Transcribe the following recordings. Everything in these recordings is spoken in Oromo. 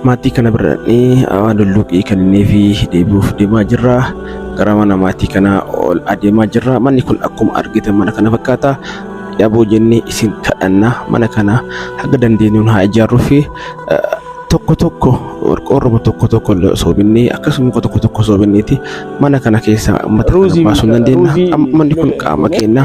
Maatii kana birradhee awaa dulluqii kannee fi deebi'uuf deemaa jirra. Gara mana maatii kanaa ol adeemaa jirra. Manni kun akkuma argitan mana kana fakkaata. Dhaboo jennee isin kadhanna. Mana kana haga dandeenyuun haa ijaarruu fi tokko tokko qorqoorruma tokko tokko illee osoo binnee akkasuma muka tokko tokko osoo binneeti mana kana keessaa uummata kana Ruuzii baasuu ni dandeenya. biqilaa, Amma manni kun qaama keenya.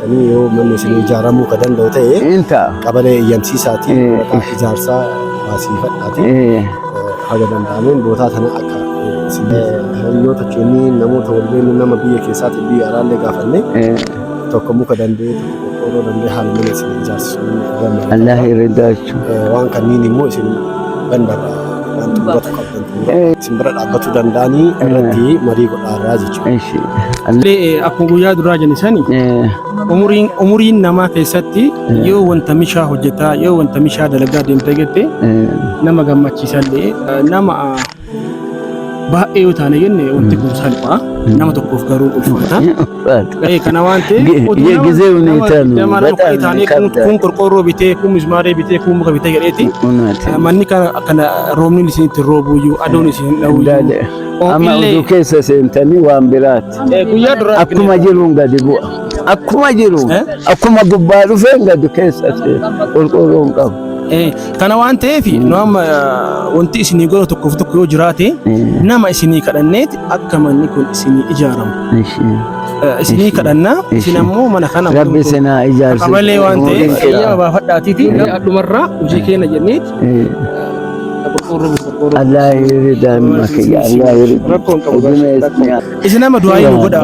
Tanii yoo manni isin ijaaramuu ka danda'u ta'e Hin ta'a. qabalee eeyyamsiisaatii Eh. maqaa ijaarsaa baasiifadhaatii Eh, haga danda'ameen bootaa tana akka eh, isin hiriyoota keenyii namoota walbeennu nama biyya keessaatii biyya alaallee gaafannee eh, tokko muka danda'ee tokko qorqoorroo danda'ee haala mana isin ijaarsisuu ni danda'a. Allahi riddaa Waan kanniin immoo isin danda'a. Wanti hubatu qabdan isin bira dhaabbachuu danda'anii irratti marii godhaarraa jechuudha. Akkuma guyyaa duraa jenni sani umuriin umuriin namaa keessatti yoo wanta mishaa hojjetaa yoo wanta mishaa dalagaa deemtee jettee nama gammachiisallee nama Baay'ee yoo taane jenne wanti kun salphaa nama tokkoof garuu ulfaata. Ee kana waan ta'eef Ge- oduu ge- nama- gisee nama huneetaa nu digdama nama baxaan kudhan taanee kun- qabda. kun qorqoorroo bitee kun mismaaree bitee kun muka bitee jedheeti. Unaati. Manni kana kana roobni isinitti roobuyyuu aduun isin Daale. dhawuyyuu. Amma Illee- oduu keessa seentanii waan biraati. Ee, Guyyaa duraa Akkuma jiruun gadi bu'a. Akkuma jiru. Eh? Akkuma gubbaa dhufeen gadi keessa seena. Qorqoorroon qabu. Ee, Kana waan ta'eef nu amma wanti isinii godhu tokkoof tokko yoo jiraate nama isinii kadhanneeti akka manni kun isinii ijaaramu. Isinii kadhannaa isin ammoo mana kana Rabbi sinaa ijaarsi. Qabalee waan ta'eef eeyyama baafadhaatiiti. Dhumarraa hojii keenya jenneeti. Allah yiridan makiya Allah yiridan. Rakkoon qabu. Isin nama du'aa yoo godha.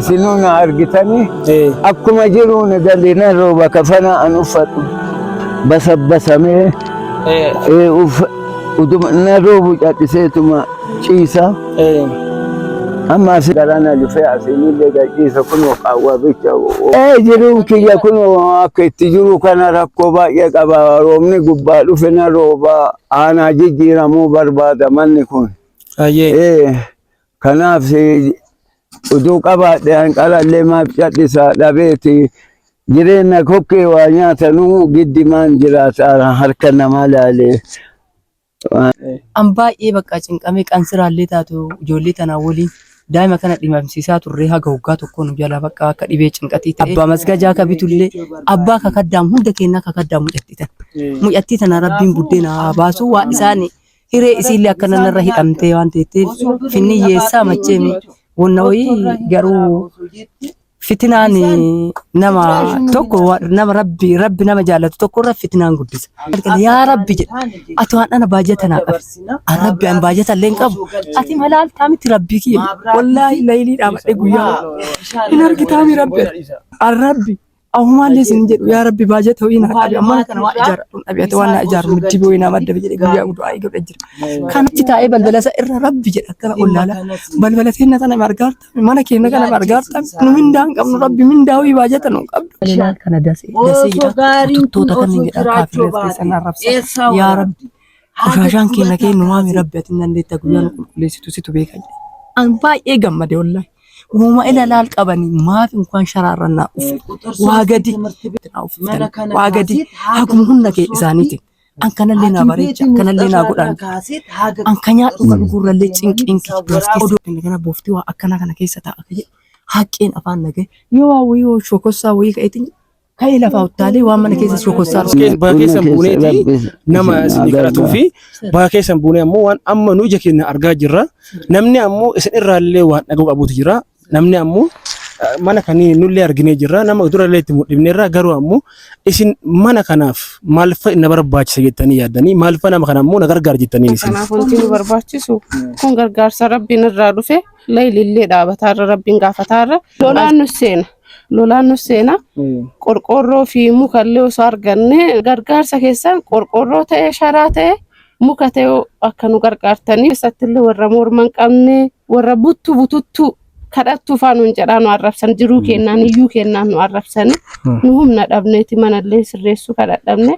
Isinuu na argitanii akkuma jiruun galinaan rooba kafana an uffadhu. basabbasamee ee, uf- utuma na roobu cadhiseetuma ciisa amma asi garaa na dhufee asiinillee gadhiisa kunoo qaawwaa bicha ee jiruun kiyya kunoo akka itti jiru kana rakkoo baay'ee qaba roobni gubbaa dhufe na rooba aanaa jijjiiramuu barbaada manni kun Ayyee. ee Kanaaf utuu qabaadhe hanqalallee maaf cadhisa dhabeeti jireenya kokkee waa nyaatanuu giddimaan jiraata harka namaa laalee. An baay'ee bakka cinqamee qansiraallee taatu ijoollee tanaa waliin daa'ima kana dhimamsiisaa turree haga waggaa tokkoo nu jalaa bakka akka dhibee cinqatii ta'e. Abbaa masgajaa ka bitullee abbaa ka kaddaam hunda keennaa ka kaddaam mucattii tana. Mucattii tana rabbiin buddeena haa baasuu waan isaan Hiree isiillee akka nanarra hidhamtee waan teetteef finni yeessaa macheemi wanna wayii garuu fitinaan nama tokko nama rabbi rabbi nama jaallatu tokko irra fitinaan guddisa. Yaa rabbi jedha ati waan ana baajata naa qabu an rabbi an baajata illee hin qabu ati malaaltaa miti rabbii kiyya wallaahi laylii dhaamadhe guyyaa hin argitaami rabbi an rabbi Ahumaallee isin jedhu yaa rabbi baajata ho'ii naa qabi ammaan kana waan ijaara kun dhabeete waan naa ijaaru mitti boo'ee naa madda jedhe guyyaa guutuu ayi godhe jira. Kan achi taa'ee balbala isaa irra rabbi jedha akkana ollaala balbala seenna sana margaarta mana keenya kana margaarta nu mindaa hin qabnu rabbi mindaa ho'ii baajata nu qabdu. Ilaal kana dasee dasee jedha tuttoota kan jedha kaafiree keessan arrabsa yaa rabbi qoshashaan keenya keenyu maami rabbi ati hin dandeetta guyyaa nu qulqulleessitu situ beeka jedhe. An baay'ee gammade wallahi. Uuma ilalaal qabanii maaf inkaan sharaarran naa ufe. Waa gadi naa uffiftan. Waa gadi haguma humna kee isaaniitiin. An kanallee naa bareecha, kanallee naa godhaan. An kan nyaadhu kan dhugurrallee cinqiin kee dubartii odoo kenna kana booftii waa akkana kana keessa taa'a akka jedhu haqqeen afaan nagee yoo waa wayii yoo shokossaa wayii ka'eetiin Ka'ee lafaa uttaalee waan mana keessa shokossaa Kee- Baha keessan buuneeti nama isinii kadhatuu fi baha keessan buunee ammoo waan amma nu ija keenya argaa jirra. Namni ammoo isin irraallee waan dhaga'u qabuutu jira. Namni ammoo eh, mana kanii nullee arginee jirra. Nama durallee itti mul'ifneerra garuu ammoo isin mana kanaaf maalfa na barbaachisa jettanii yaaddanii maalfa nama kana ammoo na gargaara jettanii isin. Kanaaf wanti nu barbaachisu kun gargaarsa rabbiin irraa dhufe layilillee dhaabataarra rabbiin gaafataarra lolaan nu seena. lolaan nu seena. Qorqoorroo fi muka illee osoo arganne gargaarsa keessan qorqoorroo ta'e sharaa ta'e muka ta'e akka nu gargaartanii keessatti illee warra morma hin qabne warra buttu bututtu kadhattuu faa nuun jedhaa nu arrabsan jiruu kennaan iyyuu kennaan nu arrabsani nu humna dhabneeti mana illee sirreessuu kadhadhabne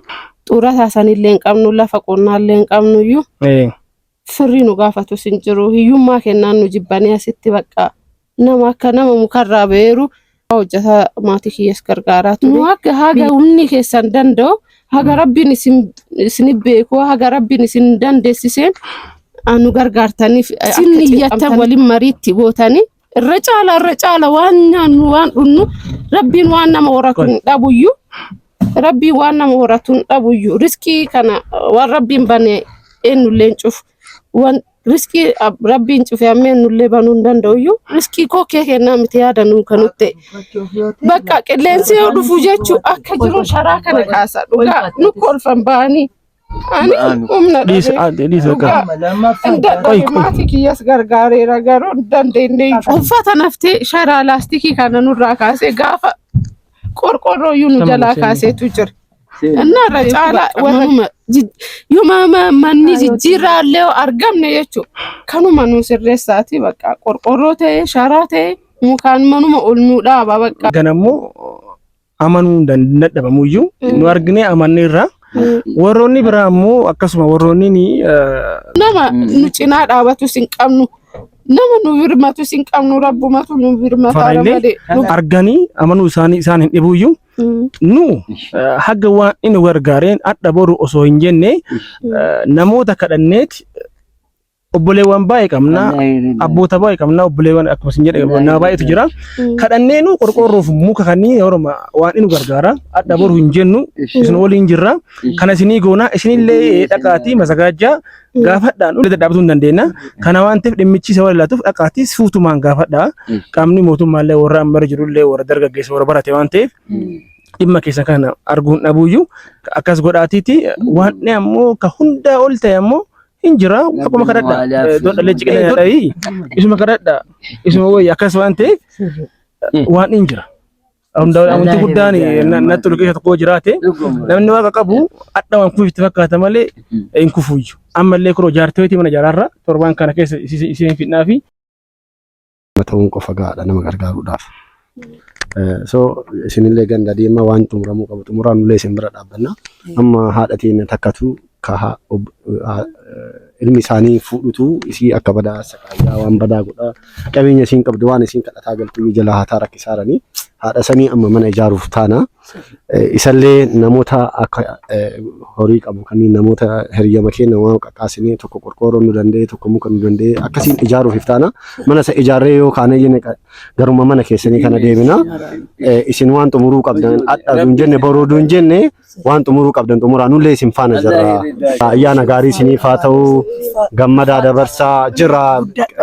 xurataa sanillee hin qabnu lafa qonnaa illee hin qabnu iyyuu firri nu gaafatus hin jiru. Hiyyummaa kennaan nu jibbanii asitti bakka nama akka nama mukarraa ba'eeru hojjetaa maatii kiyyas gargaaraa ture. Nu akka haga humni keessan danda'u haga rabbiin isin isin beeku haga rabbiin isin dandeessiseen ah, nu gargaartaniif isin iyyattan waliin mariitti gootanii irra caala irra caala waan nyaannu waan dhunnu rabbiin waan nama horatu hin dhabuyyu rabbiin waan nama horatu hin dhabuyyu riskii kana waan rabbiin bane eenyullee hin cufu waan riskii ab- rabbiin cufe amma eenyullee banuu hin danda'uyyu riskii koo kee kennaa miti yaada nuu kan nutti bakka qilleensi yoo dhufu jechuun akka jiru sharaa kana kaasa dhugaa nu kolfan ba'anii Ani Ba'aanu. humna Dhiisa dhabee ati dhiisa akka. Dhugaa. Lammaffaan Hin dadhabe Qoy, qoy. maatii kiyyas gargaareera garuu hin dandeenye. Uffata naftee sharaa laastikii kana nurraa kaasee gaafa qorqorroo iyyuu nu Tamam, jalaa isheen. kaaseetu jira. Inni irra caalaa warra yuma manni jijjiirraa illee yoo argamne jechuudha. Kanuma nu sirreessaati bakka qorqorroo ta'e sharaa ta'e mukaan manuma ol nu dhaaba bakka. Ganammoo amanuu hin dan- hin dadhabamu iyyuu Mm. nu arginee amannee irraa warroonni biraa ammoo akkasuma warroonni ni eh, nama Mm. nu cinaa dhaabatus hin qabnu nama nu birmatus hin qabnu rabbumatu nu birmataa Farallee malee nu arganii amanuu isaanii isaan hin dhibuu iyyuu Mm. nu eh, haga waan inni gargaareen adda boru osoo hin jenne eh, namoota kadhanneeti obboleewwan baay'ee qabna abboota baay'ee qabna obboleewwan akkuma isin jedhe nama baay'eetu jira kadhanneenu qorqoorroof muka kanneen horoma waan inu gargaara adda boru hin jennu isin waliin jirra kana isinii goona isinillee dhaqaatii masagaajaa gaafadhaan ulee dadhaabatu hin dandeenya kana waan ta'eef dhimmichi isa wal ilaatuuf dhaqaatii suutumaan gaafadhaa qaamni mootummaallee warra ammara jirullee warra dargaggeessa warra barate waan ta'eef dhimma keessan kana arguun dhabuuyyu akkas godhaatiiti waan ammoo ka hundaa ol ta'e ammoo hin jira akkuma kadhadha don dhalee ciqila dhayii isuma kadhadha isuma wayya akkas waan ta'eef waan hin jira hunda wanti guddaan na tolu keessa tokko jiraate namni waaqa qabu adda waan kufitti fakkaata malee hin kufuyyu ammallee kuroo jaarteetii mana jaraarra torbaan kana keessa isiin fidnaa fi nama ta'uun qofa gahaadha nama gargaaruudhaaf. Eh, So isinillee ganda deemaa waan xumuramuu qabu xumuraa nullee isin bira dhaabbanna. Amma haadha teenya takkatu kaha ob- ha- eh, ilmi isaanii fuudhutu isii akka badaa saqaayaa waan badaa godhaa qabeenya isiin qabdu waan isiin kadhataa galtu iyyuu jalaa hataa rakkisaaranii haadha sanii amma mana ijaaruuf taana. Isallee namoota akka eh, horii qabu kanneen namoota hiriyyama keenya waan qaqqaasinee tokko qorqoorroo nu danda'e tokko muka nu danda'e akkasiin ijaaruuf iftaana mana isa ijaarree yoo kaanee jenne qa- garuma mana keessanii kana deebina Eh, isin waan xumuruu qabdan adha duun jenne boroo duun jenne waan xumuruu qabdan xumuraa nullee isin faana jirra ayyaana gaarii isiniif haa ta'u gammadaa dabarsaa jira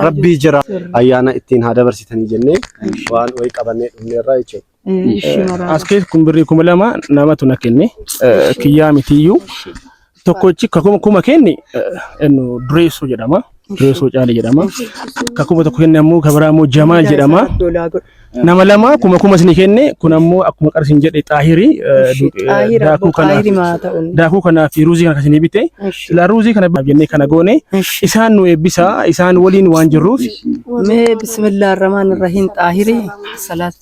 rabbii jira ayyaana ittiin haa dabarsitanii jennee waan wayii qabannee dhumneerraa jechuudha. As keessa kun birrii kuma lama namatu na kenne kiyyaa mitiyyuu tokkochi kakuma kuma kenni ennu dureessoo jedhama dureessoo caale jedhama kakuma tokko kenne ammoo kabiraa ammoo jamaal jedhama nama lama kuma kuma isin kenne kun ammoo akkuma qarsiin jedhe xaahirii daakuu kana daakuu kanaa fi ruuzii kana isin bite silaa ruuzii kana jennee kana goone isaan nu eebbisaa isaan waliin waan jirruuf Mee bismillah ar-rahmaan ar-rahiim xaahirii salaat.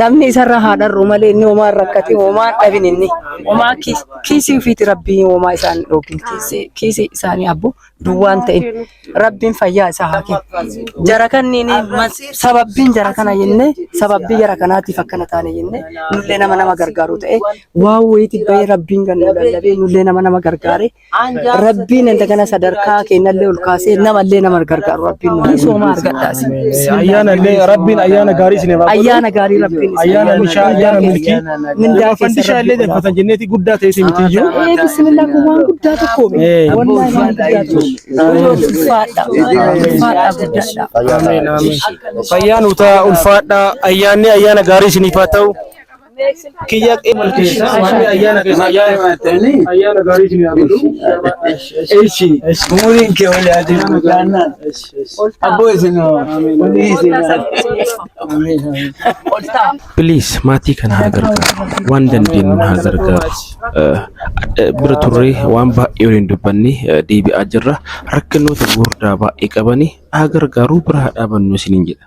Namni isarra haa dharru malee inni homaa hin rakkatin homaa hin dhabin inni homaa kiis- kiisii ofiiti rabbii homaa isaan hin dhoogin kiisii kiisii isaanii abbo duwwaan ta'in rabbiin fayyaa isaa haa kennu. Jara kanniin mas- sababbiin jara kana jennee sababbii jara kanaatiif akkana taane jennee nullee nama nama gargaaru ta'e waan wayiitti bahee rabbiin kan nu lallabee nullee nama nama gargaaree Rabbiin inta kana sadarkaa keenyallee ol kaasee namallee nama gargaaru Rabbiin nu sooma argadhaa isin. Ayyaana illee Rabbiin ayyaana gaarii isin irraa Ayyaana gaarii Rabbiin isin Ayyaana mishaa, ayyaana milkii. Mindaa Fandishaa illee darfatan jenneeti guddaa ta'e isin miti iyyuu. Ee bismillah kun waan guddaa tokko mi. Ee. Wallahi waan guddaa tokko. Ulfaadha. Ulfaadha guddaadha. Ameen, ameen. Fayyaan utaa ulfaadhaa ayyaanni ayyaana gaarii isiniif haa ta'u. Kiyya ayyaana gaarii isin haa godhu. Eshi, umuriin kee wal haa deemu taanaan. Abboo isin walii isin haa Please maatii kana haa gargaaru. Waan dandeenyu haa gargaaru. Eh, eh, Bira turree waan baay'ee waliin dubbanne eh, deebi'aa jirra. Rakkinoota gurguddaa baay'ee qabani haa gargaaru bira haa dhaabannu isiniin jedha.